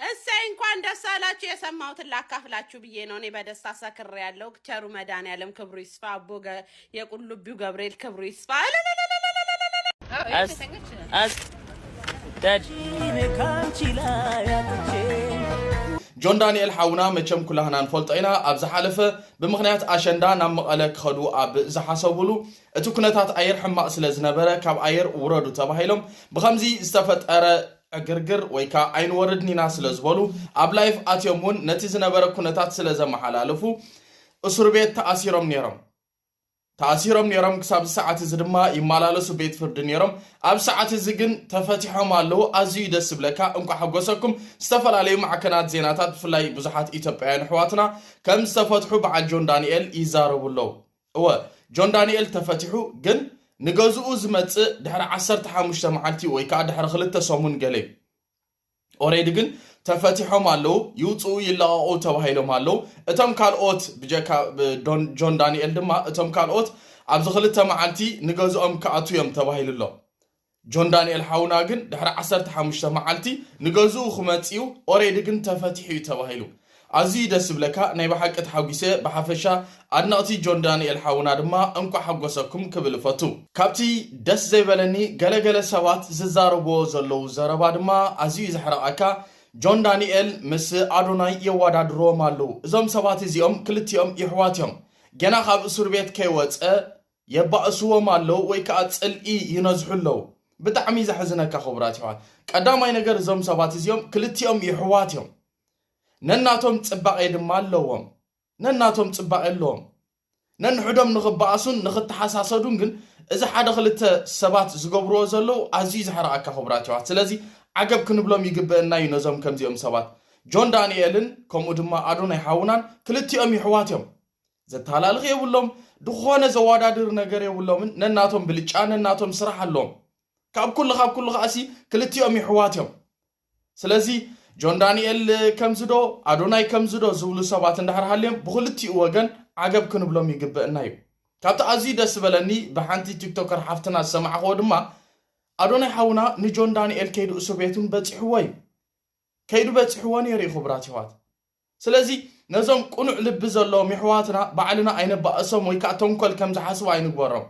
እሰይ እንኳን ደስ አላችሁ የሰማሁትን ላካፍላችሁ ብዬ ነው። እኔ በደስታ ሰክሬ ያለው ቸሩ መድኃኔዓለም ክብሩ ይስፋ። አቦ ገ- የቁልቢው ገብርኤል ክብሩ ይስፋ። ጆን ዳንኤል ሓውና መቸም ኩላህና ንፈልጦ ኢና ኣብ ዝሓለፈ ብምኽንያት ኣሸንዳ ናብ መቐለ ክኸዱ ኣብ ዝሓሰቡሉ እቲ ኩነታት ኣየር ሕማቕ ስለ ዝነበረ ካብ ኣየር ውረዱ ተባሂሎም ብከምዚ ዝተፈጠረ ዕግርግር ወይ ከኣ ኣይንወርድን ኢና ስለ ዝበሉ ኣብ ላይፍ ኣትዮም ውን ነቲ ዝነበረ ኩነታት ስለ ዘመሓላለፉ እሱርቤት ተኣሲሮም ኔሮም ተኣሲሮም ኔሮም ክሳብዚ ሰዓት እዚ ድማ ይመላለሱ ቤት ፍርዲ ኔሮም ኣብ ሰዓት እዚ ግን ተፈቲሖም ኣለዉ ኣዝዩ ደስ ዝብለካ እንቋ ሓጎሰኩም ዝተፈላለዩ ማዕከናት ዜናታት ብፍላይ ብዙሓት ኢትዮጵያውያን ኣሕዋትና ከም ዝተፈትሑ በዓል ጆን ዳንኤል ይዛረቡ ኣለዉ እወ ጆን ዳኒኤል ተፈቲሑ ግን ንገዝኡ ዝመጽእ ድሕሪ ዓሰርተ ሓሙሽተ መዓልቲ ወይ ከኣ ድሕሪ ክልተ ሰሙን ገለ እዩ ኦሬዲ ግን ተፈቲሖም ኣለዉ ይውጽኡ ይለቐቑ ተባሂሎም ኣለዉ እቶም ካልኦት ብጀካ ጆን ዳኒኤል ድማ እቶም ካልኦት ኣብዚ ክልተ መዓልቲ ንገዝኦም ክኣቱ እዮም ተባሂሉ ኣሎ ጆን ዳንኤል ሓውና ግን ድሕሪ ዓሰርተ ሓሙሽተ መዓልቲ ንገዝኡ ክመጽእዩ ኦሬዲ ግን ተፈቲሑ እዩ ተባሂሉ ኣዝዩ ደስ ዝብለካ ናይ ብሓቂ ተሓጒሰ ብሓፈሻ ኣድነቕቲ ጆን ዳንኤል ሓውና ድማ እንቋዕ ሓጎሰኩም ክብል እፈቱ ካብቲ ደስ ዘይበለኒ ገለ ገለ ሰባት ዝዛረብዎ ዘለዉ ዘረባ ድማ ኣዝዩ እዩ ዘሕርቐካ ጆን ዳንኤል ምስ ኣዶናይ የዋዳድርዎም ኣለዉ እዞም ሰባት እዚኦም ክልቲኦም የሕዋት እዮም ገና ካብ እሱርቤት ከይወጸ የባእስዎም ኣለዉ ወይ ከኣ ጽልኢ ይነዝሑ ኣለዉ። ብጣዕሚ ዘሕዝነካ ክቡራት የሕዋት ቀዳማይ ነገር እዞም ሰባት እዚኦም ክልቲኦም የሕዋት እዮም ነናቶም ጽባቄ ድማ ኣለዎም ነናቶም ጽባቄ ኣለዎም ነንሕዶም ንኽባኣሱን ንኽተሓሳሰዱን ግን እዚ ሓደ ክልተ ሰባት ዝገብርዎ ዘለዉ ኣዝዩ ዘሕርኣካ ክቡራት የሕዋት ስለዚ ዓገብ ክንብሎም ይግብእና እዩ ነዞም ከምዚኦም ሰባት ጆን ዳንኤልን ከምኡ ድማ ኣዶናይ ሓውናን ክልቲኦም የሕዋት እዮም ዘተሃላልኽ የብሎም፣ ድኾነ ዘዋዳድር ነገር የብሎምን፣ ነናቶም ብልጫ ነናቶም ስራሕ ኣሎዎም። ካብ ኩሉ ካብ ኩሉ ከኣሲ ክልቲኦም ይሕዋት እዮም። ስለዚ ጆን ዳንኤል ከምዚዶ ኣዶናይ ከምዚዶ ዝብሉ ሰባት እንድሕር ሃልዮም ብኽልቲኡ ወገን ዓገብ ክንብሎም ይግበእና እዩ። ካብቲ ኣዝዩ ደስ ዝበለኒ ብሓንቲ ቲክቶከር ሓፍትና ዝሰማዕኽዎ ድማ ኣዶናይ ሓውና ንጆን ዳንኤል ከይዱ እሱር ቤት እውን በጺሕዎ እዩ። ከይዱ በጺሕዎ ነይሩ እዩ ክቡራት የሕዋት። ስለዚ ነዞም ቅኑዕ ልቢ ዘለዎም የሕዋትና ባዕልና ኣይነባእሶም ወይ ከኣ ተንኮል ከም ዝሓስቡ ኣይንግበሮም።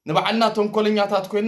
ንባዕልና ተንኮለኛታት ኮይና